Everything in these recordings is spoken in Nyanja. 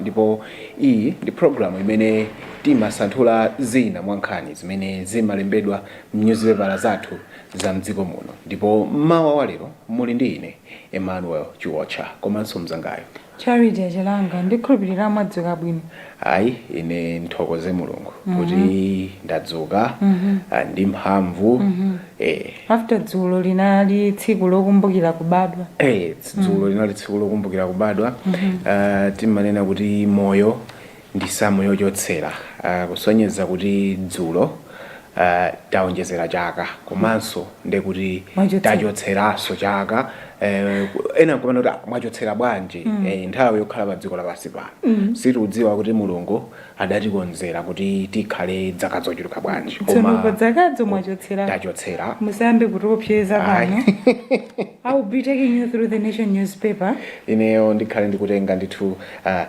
ndipo iyi ndi programu imene timasanthula zina mwa nkhani zimene zimalembedwa m'nyuzipepala zathu za mdziko muno ndipo mmawa wa lero muli ndi ine emmanuel chiwotcha komanso mzangayo Charity Achilanga ndikhulupirira mwadzuka bwino. Ayi ine ndithokoze Mulungu kuti ndadzuka ndi mphamvu ee. After dzulo linali tsiku lokumbukira kubadwa. Ee dzulo linali tsiku lokumbukira kubadwa timanena kuti moyo. ndi samu yochotsera kusonyeza kuti dzulo taonjezera chaka komanso nde kuti tachotseranso chaka ena nkumanena kuti ah, mwachotsera bwanji mm. e, nthawi yokhala pa dziko lapansi pano mm. sitiudziwa kuti mulungu adatikonzera kuti tikhale dzaka zochuluka bwanji koma dzakadzo mwachotsera tachotsera musayambe kutiopseza pano I will be taking you through the nation newspaper ineyo ndikhale ndikutenga ndithu uh,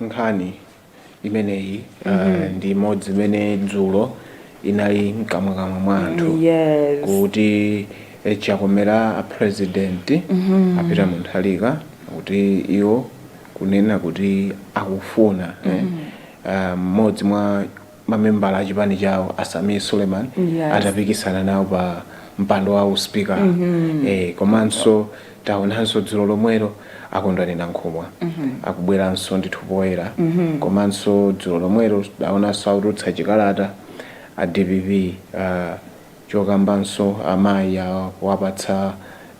nkhani imeneyi mm -hmm. uh, ndi imodzi imene dzulo inali mkamwakamwa mwa anthu yes. kuti eh, chakomera a president mm -hmm. a Peter Mutharika kuti iwo kunena kuti akufuna eh, mm-hmm. eh, mmodzi eh, uh, mwa mamembala a chipani chawo a Sameer Suleman Yes. atapikisana nawo pa mpando wa usipikala eh, komanso taonanso dzulo lomwelo a Kondwani Nankhumwa akubweranso ndithu poyera komanso dzulo lomwelo taonanso akutulutsa chikalata a dpp uh, chokambanso amayi awapatsa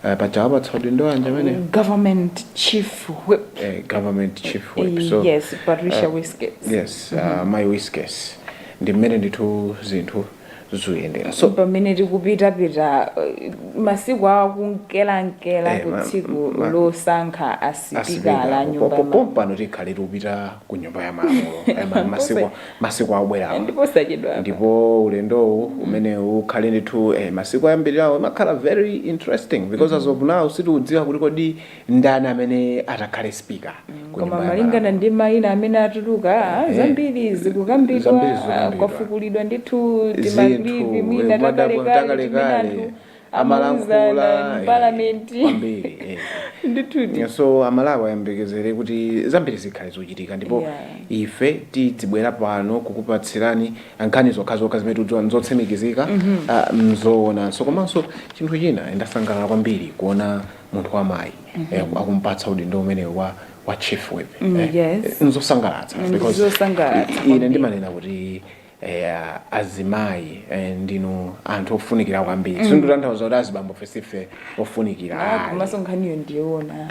eh, paja awapatsa udindo wanji amene government chief whip eh, government chief whip so yes patricia uh, wiskes yes uh, mayi wiskes ndi mmene ndithu zinthu zuyendera so pamene tikupitapita eh, masiku awa kunkelankela Eh, ma- ku tsiku ma- losankha asipikala asipika nyumba ya malamulo. pompano tikhale tikupita ku nyumba ya malamulo Eh, ma- masiku Kose- masiku akubwerawa ndi posachedwapa. ndipo ulendowu umene ukhale ndithu eh, masiku oyambirirawo imakhala very interesting because as of now sitiudziwa kuti kodi ndani amene atakhale speaker ku nyumba ya malamulo koma malingana ndi mayina amene atuluka ah, Eh. zambiri zikukambidwa Zambiri ah, zikukambidwa. kwafukulidwa ndithu zinthu tima clip mwina madabwa takalekale timene takalekale anthu amalankhula Amauzana, eh, parliament. kwambiri eh. ndithudi so amalawi ayembekezere kuti zambiri zikhale zochitika ndipo Yeah. ife tidzibwera pano kukupatsirani nkhani zokhazokha zimene tidziwa nzotsimikizika ah, nzoonanso komanso chinthu china ndasangalala kwambiri kuona munthu wamayi eh, akumpatsa udindo umene wa wa chief whip Mm, yes. nzosangalatsa Mm, because nzosangalatsa i- ine kwambiri. ndimanena kuti Eya azimayi eh, ndinu anthu ofunikira kwambiri sindikutanthauza kuti azibambofe sife ofunikira Ah, ayi. komanso nkhaniyo ndiyoona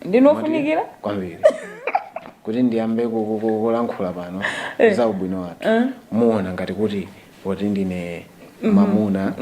ndinu ofunikira kwambiri kuti ndiyambe ku- ku- ku- kulankhula pano za ubwino wathu muona ngati kuti poti ndine mamuna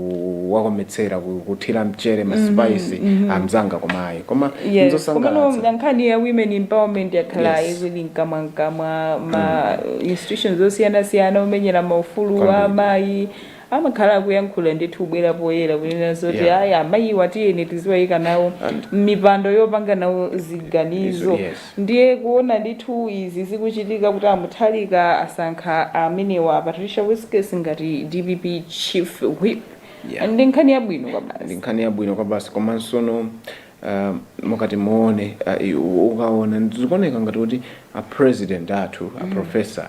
ndikuwakometsera ku- kuthira mchere maspice amzanga komayi koma Yes, nzosangalatsa komano nkhani ya women empowerment yakhala Yes. ili mkamwa mkamwa ma institutions osiyanasiyana omenyera maufulu Kwambiri. a amayi amakhala akuyankhula ndithu kubwera poyera kunena zoti Yeah. ayi amayiwa tiyeni tiziwayika nawo And- m'mipando yopanga nawo ziganizo Yes. Ndiye kuona ndithu izi zikuchitika kuti a Mutharika asankha amenewa a Patricia Wiskes ngati dpp Chief Whip Yeah. ndi nkhani yabwino kwabasi. ndi nkhani yabwino kwabasi komansono uh, mukati muone uh, ukaona zikuoneka ngati kuti a president athu a professor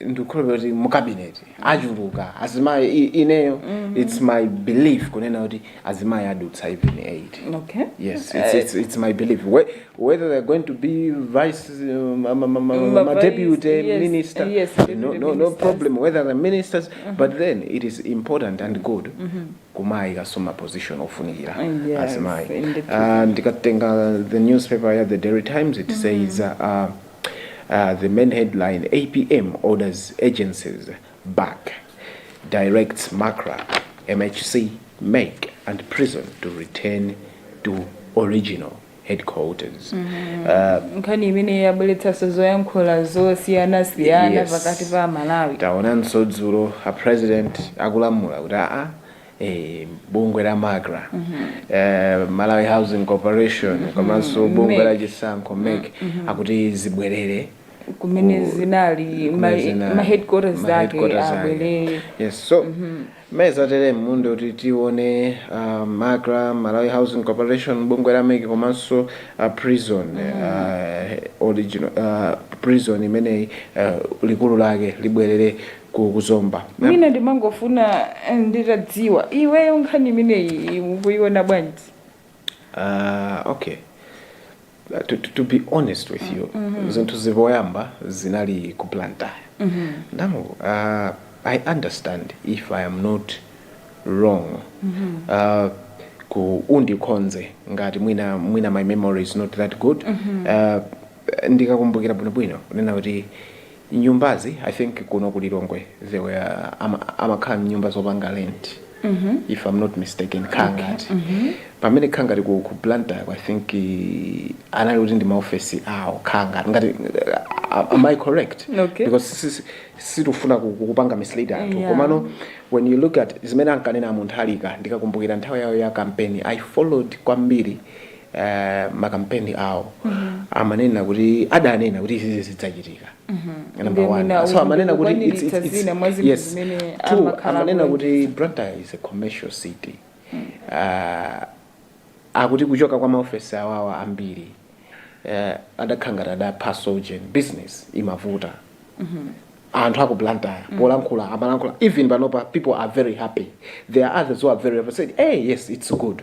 ndikukhulupira kuti mu cabinet achuluka azimayi i- ineyo it's my belief kunena kuti azimayi adutsa even 8 okay yes it's, it's, it's my belief Whe- whether they're going to be vice uh, ma, ma, ma, ma, Ma ma vice, deputy yes, minister yes, no, deputy no, no ministers. problem whether the ministers but then it is important and good kumayi kasoma position ofunikira Yes, azimayi indeed. uh, ndikatenga the newspaper ya the daily times it says uh, The main headline, apm orders agencies back, directs macra, MHC, mec and prison to return to original headquarters. Uh, nkhani imene yabweretsanso zoyankhula zosiyanasiyana Yes. pakati pa amalawi taonanso dzulo a president akulamula kuti aa Eh, bungwe la macra eh, malawi housing corporation komanso bungwe la MEC. chisankho MEC akuti zibwerere kumene Ku- zinali kumene ma- zinali, ma headquarters ma zake headquarters zake. abwerere yes so meza tere mmundi kuti tione uh, macra malawi housing corporation bungwe la MEC komanso uh, prison uh, original uh, prison imeneyi uh, likulu lake libwerere ku ku zomba mwina ndimangofuna eh, nditadziwa iweyo nkhani imeneyi ukuiona bwanji Ah, okay Uh, to, to, to be honest with you zinthuzi poyamba zinali ku blantyre now uh, i understand if i am not wrong uh, ku undikhonze ngati mwina mwina my memory is not that good uh, ndikakumbukira bwinobwino kunena kuti nyumbazi i think kuno ku lilongwe there were ama- amakhala mnyumba zopanga rent if i'm not mistaken kukhala ngati pamene kukhala ngati ku, ku blantyre i think eh, anali kuti ndi maofesi awo kukhala ngati ngati uh, am i correct Okay. because si- si- sitifuna ku- ku- kupanga mislead anthu Yeah. komano when you look at zimene ankanena mutharika ndikakumbukira nthawi yawo ya kampeni i followed kwambiri eh, makampeni awo amanena kuti adanena kuti izizi zizachitika Number Ndinu one. na So amanena kuti it's- kukwaniritsa it's- it's- zina mwa zinthu yes. zimene Two, amakhala amanena akuwonetsa. kuti Blantyre is a commercial city Ah, akuti kuchoka kwa maofesi awawa ambiri eh, adakhala ngati adaphaso business imavuta anthu aku Blantyre polankhula amalankhula even panopa people are very happy there are others who are very happy said hey yes it's good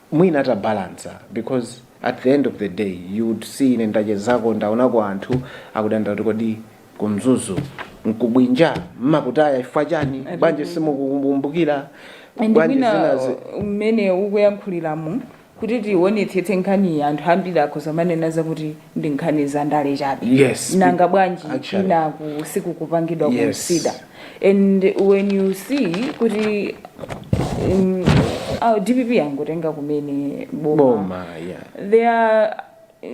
mwina atabalansa because at the end of the day you would see ine ndachezako ndaonako anthu akudandaula kuti kodi ku mzuzu nkubwinja mmakutaya chifukwa chani bwanji simukukumbukira and bwanji mwina zinazi uh, mmene ukuyankhuliramu kuti tionetsetse nkhaniyi anthu ambiri akhoza manena zakuti ndi nkhani za ndale chabe Yes, nanga it- bwanji actually. kwinaku sikukupangidwa Yes. consider and when you see kuti um, uh, dpp yangotenga kumene boma yeah. there are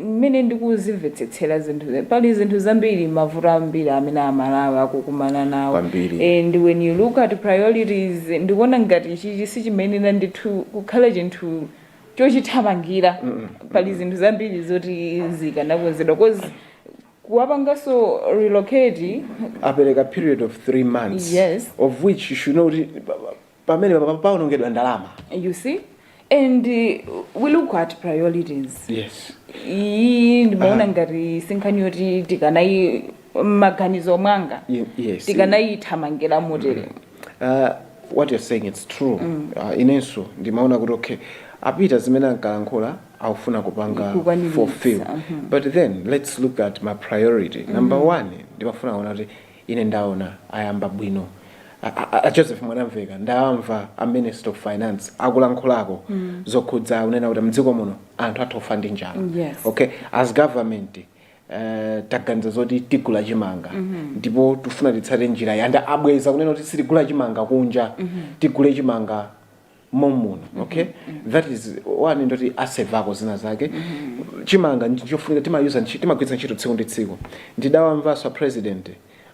mmene ndikuzimvetsetsera zinthu ze- pali zinthu zambiri mavuto ambiri amene amalawi akukumana nawo Kwambiri. and when you look at priorities ndikuona ngati ichichi sichimayenera ndithu kukhala chinthu chochithamangira pali zinthu zambiri zoti zikanakonzedwa cause kuwapanganso relocate apereka period of three months Yes. of which you should know kuti pa- pa- pamene pa- pa- paonongedwa ndalama you see and uh, we look at priorities yes iyi ndimaona ngati sinkhani yoti tikanayi mmaganizo mwanga Ye- yes. tikanayithamangira motere Uh, what you're saying it's true mm. uh, inenso ndimaona kuti okay apita zimene ankalankhula akufuna kupanga fulfill uh mhm. -huh. but then let's look at ma priority mm -hmm. number mhm. one ndimafuna kuona kuti ine ndaona ayamba bwino a joseph mwanamveka ndamva a minister of finance akulankhulako mm. zokhudza kunena kuti mdziko muno anthu atha kufa ndi njala yes. okay as government Eh, taganiza zoti tigula chimanga ndipo tifuna titsate njira yanda abweza kunena kuti sitigula chimanga kunja tigule chimanga momuno okay that is one ndoti asevako zina zake chimanga ndichofunika timayuza ntchi- timagwiritsa ntchito tsiku ndi tsiku ndidawamvanso a president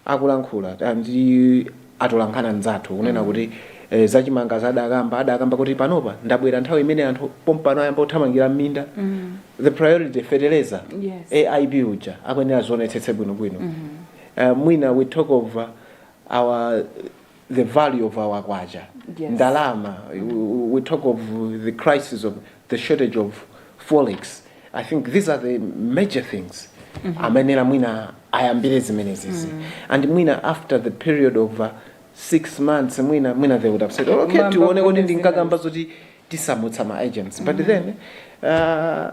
akulankhula ndi atolankhani anzathu kunena mm. kuti e, zachimanga adakamba adakamba kuti panopa ndabwera nthawi imene anthu pompano ayamba kuthamangira m'minda mm. the priority fertilizer yes. aip uja akuyenera zionetsetse bwinobwino mm -hmm. uh, mwina we talk of uh, our the value of our kwacha yes. ndalama we talk of the crisis of the shortage of forex i think these are the major things mm -hmm. amenera mwina ayambire zimenezizi mm -hmm. and mwina after the period of uh, six months mwina mwina they would have said oh, okay tione kuti ndinkakamba zoti tisamutsa ma agents but mm -hmm. then uh,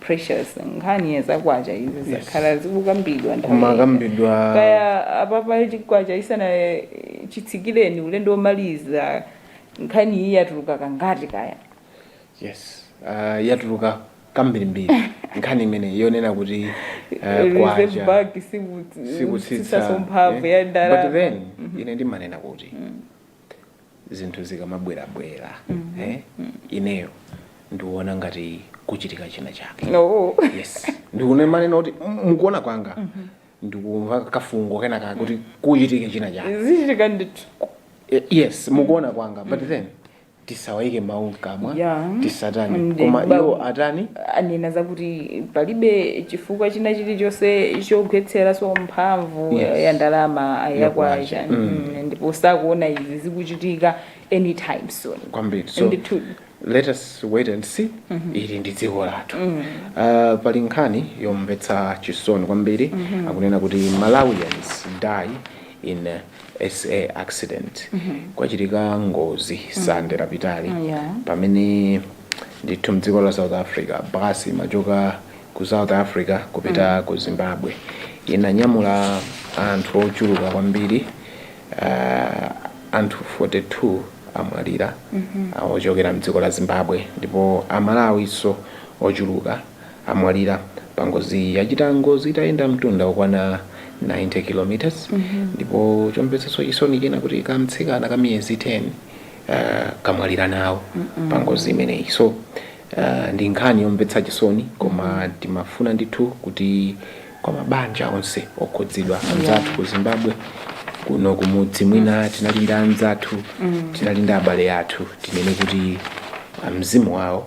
pressures nkhani ya zakwacha izi zakhala zikukambidwa nthawi ina. kukambidwa kaya apapa chikwacha isana chitsikireni ulendo womaliza nkhani iyi yatuluka kangati kaya yes uh, yatuluka kambirimbiri nkhani imene yonena kuti uh, reserve bank sikutsitsaso mphamvu ya but ndalama then ine ndimanena kuti zinthu zikamabwerabwera eh, ineyo ndikuona ngati kuchitika china chake no yes ndikunena manena kuti m- mukuona kwanga ndikumva kafungo kena kake kuti kuchitika china chake zichitika ndithu Eh, yes mukuona kwanga but then tisawaike mawu mkamwa Yeah. tisatani Ndi- koma ba- iwo atani anena zakuti palibe chifukwa china chilichonse chogwetseraso mphamvu Yes. ya ndalama ya Ya kwacha kwacha. Mm, ndipo sakuona izi zikuchitika anytime soon kwambiri so ndithu let us wait and see ili ndi dziko lathu uh, pali nkhani yomvetsa chisoni kwambiri akunena kuti malawians die in SA accident kwachitika ngozi sande lapitali Yeah. pamene ndithu mdziko la south africa basi imachoka ku south africa kupita ku zimbabwe inanyamula anthu ochuluka kwambiri uh, anthu 42 amwalira uh, ochokera mdziko la zimbabwe ndipo amalawiso ochuluka amwalira pangozi yachita ngozi itayenda mtunda okwana 90 km ndipo chomvetsa chisoni china kuti kamtsikana ka miyezi 10 uh, kamwalira nawo pangozi imeneyi so uh, ndi nkhani yomvetsa chisoni koma timafuna ndithu kuti kwa mabanja onse okhudzidwa anzathu ku zimbabwe kuno kumudzi mwina tinali ndi anzathu tinali ndi abale athu tinene kuti ah, mzimu wawo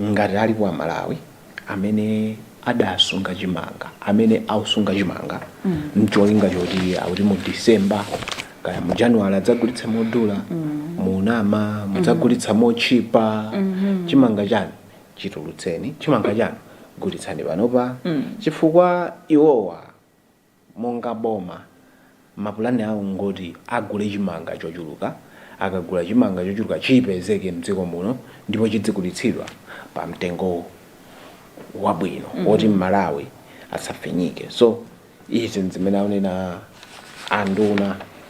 Ngati alipo a Malawi amene adasunga chimanga, amene akusunga chimanga n'cholinga choti akuti mu December kaya mu January adzagulitsa modula, munama, mudzagulitsa motchipa, chimanga chanu chitulutseni, chimanga chanu gulitsani panopa chifukwa iwowa Monga boma, mapulani awo n'ngoti agule chimanga chochuluka. Akagula chimanga chochuluka chipezeke m'dziko muno ndipo chidzigulitsidwa pamtengo wabwino woti Mmalawi asafinyike. So izi n'zimene akunena anduna.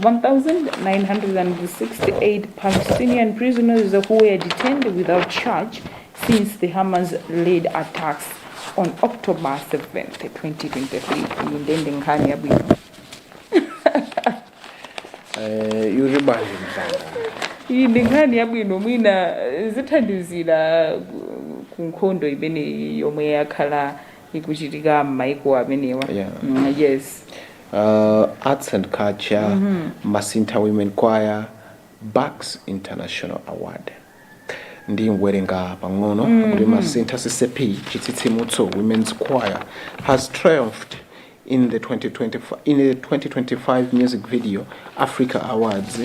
1,968 Palestinian prisoners who were detained without charge since the Hamas-led attacks on October 7th, 2023. Iyi ndi nkhani yabwino. Eh, yuri banje msanga Iyi ndi nkhani yabwino mwina eh, zithandizira ku- ku nkhondo imeneyi yomwe yakhala ikuchitika m'maiko amenewa. Yeah. Mm, yes. uh, arts and culture mm -hmm. masintha women choir bax international award ndi mwerenga pang'ono mm -hmm. kuti masintha ccp chitsitsimutso women's choir has triumphed in the 2025, in the 2025 music video africa awards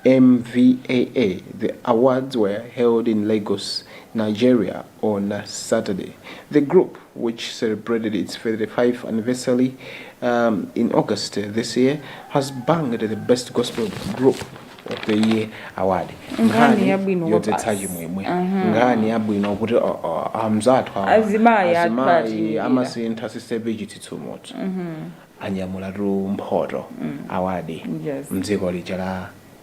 mvaa the awards were held in lagos nigeria on Saturday. The group, which celebrated its 35th anniversary um, in August uh, this year, has bagged the Best Gospel Group of the Year award. Nkhani yabwino kwa yodzetsa chimwemwe nkhani yabwino kuti uh, uh, amzathu awa, Azimayi athu azimayi achinyira. a Masintha CCAP Chitsitsimutso anyamulatu mphoto awadi Yes. mdziko lija la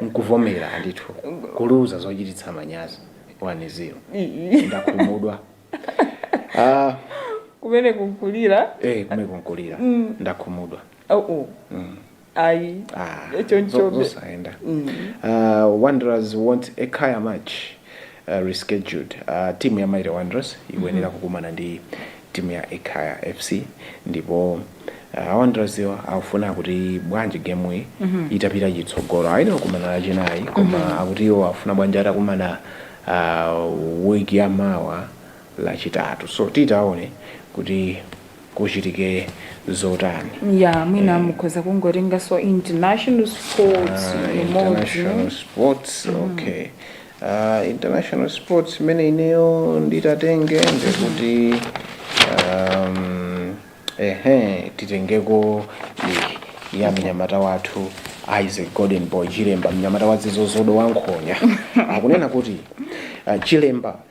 mkuvomera ndithu kuluza zochititsa manyazi 1-0 ndakhumudwa ah, kumene kunkulira eh, kumene kunkulira ndakhumudwa oh, oh. mm. ayi ah, chonchobe zosayenda mm. uh, wanderers want a Ekhaya match rescheduled timu ya Mighty Wanderers ikuyenera kukumana ndi timu ya Ekhaya FC ndipo a Wandererswo akufuna kuti bwanji game iyi itapita chitsogolo ayenera kukumana lachinayi koma akuti iwo akufuna bwanji atakumana uh, week ya mawa lachitatu so titaone kuti kuchitike zotani ya mwina mukhoza kungotenganso international sports Ah, imodzi international sports okay Ah, international sports imene ineyo nditatenge ndikuti um, ehe titengeko iyi ya mnyamata wathu isaac golden boy chilemba mnyamata wadzitho zodo wa nkhonya akunena kuti ah, chilemba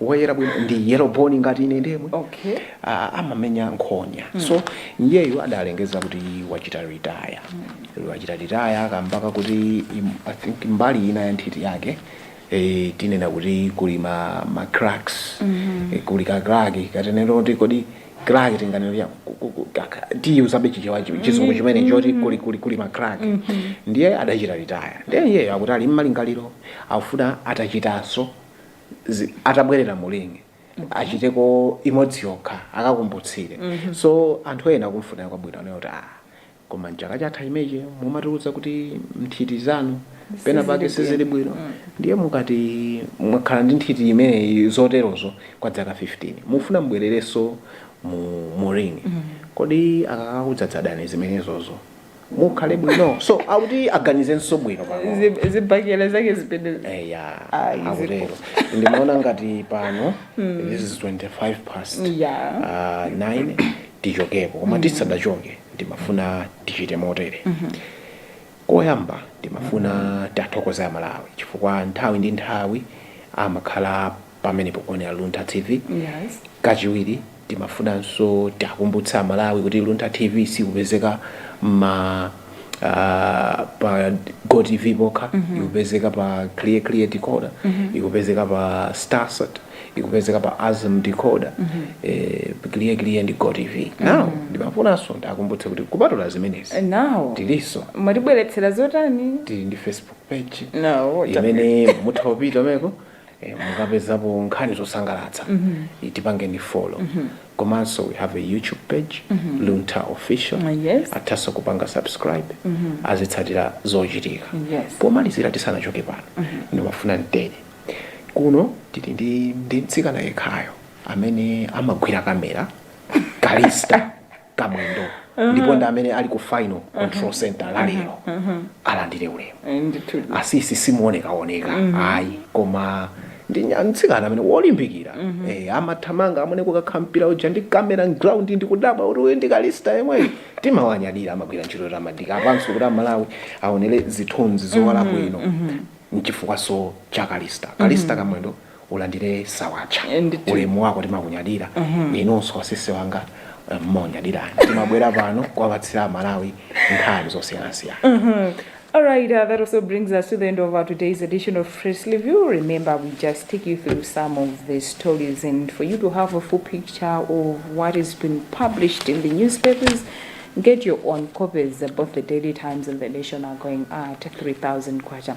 woyera bwino ndi yellow bone ngati ine ndemwe okay Ah, amamenya nkhonya so iyeyo adalengeza kuti wachita retire wachita retire akambako kuti im- i think mbali ina ya nthiti yake eh, tinena kuti kuli ma, ma cracks eh, kuli ka crack katenero kuti kodi crack tinganene ya ku- ku- ku- kaka- tiyuzabe chichewa chi- chizungu chimene choti kuli kuli kuli ma crack ndiye adachita retire ndiye iyeyo akuti ali mmalingaliro akufuna atachitanso zi- atabwerera mu ring achiteko imodzi yokha akakumbutsire so anthu ena kumfunira kwabwino anayo kuti ah koma mchaka chatha chimenechi mumatiuza kuti nthiti zanu pena pake sizili bwino ndiye mukati mwakhala ndi nthiti imeneyi zoterozo kwa dzaka 15 mufuna mubwererenso mu, mu ring kodi akakakudzadzadani zimenezozo mukhale bwino so akuti aganizenso bwino pano Zi- zibakera zake zipende eya Ah, izi akutero ndimaona ngati pano this is 25 past Yeah. Ah, 9 tichokepo koma tisadachoke ndimafuna tichite motere koyamba ndimafuna tiathokoze amalawi chifukwa nthawi ndi nthawi amakhala pamene pokuonera Luntha TV. Yes. Kachiwiri timafunanso tiakumbutse Amalawi kuti Luntha TV sikupezeka ma uh, pa GoTV pokha mm -hmm. ikupezeka pa Clear Clear Decoder mm -hmm. ikupezeka pa Starsat ikupezeka pa Azam Decoder mm -hmm. eh, Clear Clear ndi GoTV mm -hmm. now ndimafunanso ndiakumbutse kuti kupatula zimenezi Now. tilinso Mwatibweretsera zotani? tili ndi Facebook page No. imene mutha kupitamoko Eh, mukapezapo nkhani zosangalatsa tipangeni follow komanso we have a youtube page luntha official Ah, yes. athaso kupanga subscribe azitsatira zochitika Yes. pomalizira tisanachoke pano ndimafuna motere kuno tili ndi ndi mtsikana yekhayo amene amagwira kamera kalista kamwendo ndipo ndi amene ali ku final control center lalero alandire ulemu Eh, ndithu asisi simuonekaoneka ayi koma ndi nya- mtsikana amene wolimbikira eh, amathamanga amene kukakhala mpira uja ndi kamera ground ndi kudabwa kuti uyu ndi kalista yemweyi timawanyadira amagwira ntchito yotamandika apanso kuti amalawi aonere zithunzi zowala bwino mchifukwaso cha kalista kalista kamwendo ulandile sawapsya Eh, ndithu. ulemu wako timakunyadira inunso asisi wanga eh, mmaunyadirani timabwera pano kuwapatsira amalawi nkhani zosiyanasiyana All right, uh, that also brings us to the end of our today's edition of Press Review. Remember, we just take you through some of the stories, and for you to have a full picture of what is being published in the newspapers, get your own copies. Both the Daily Times and the Nation are going at 3,000 kwacha.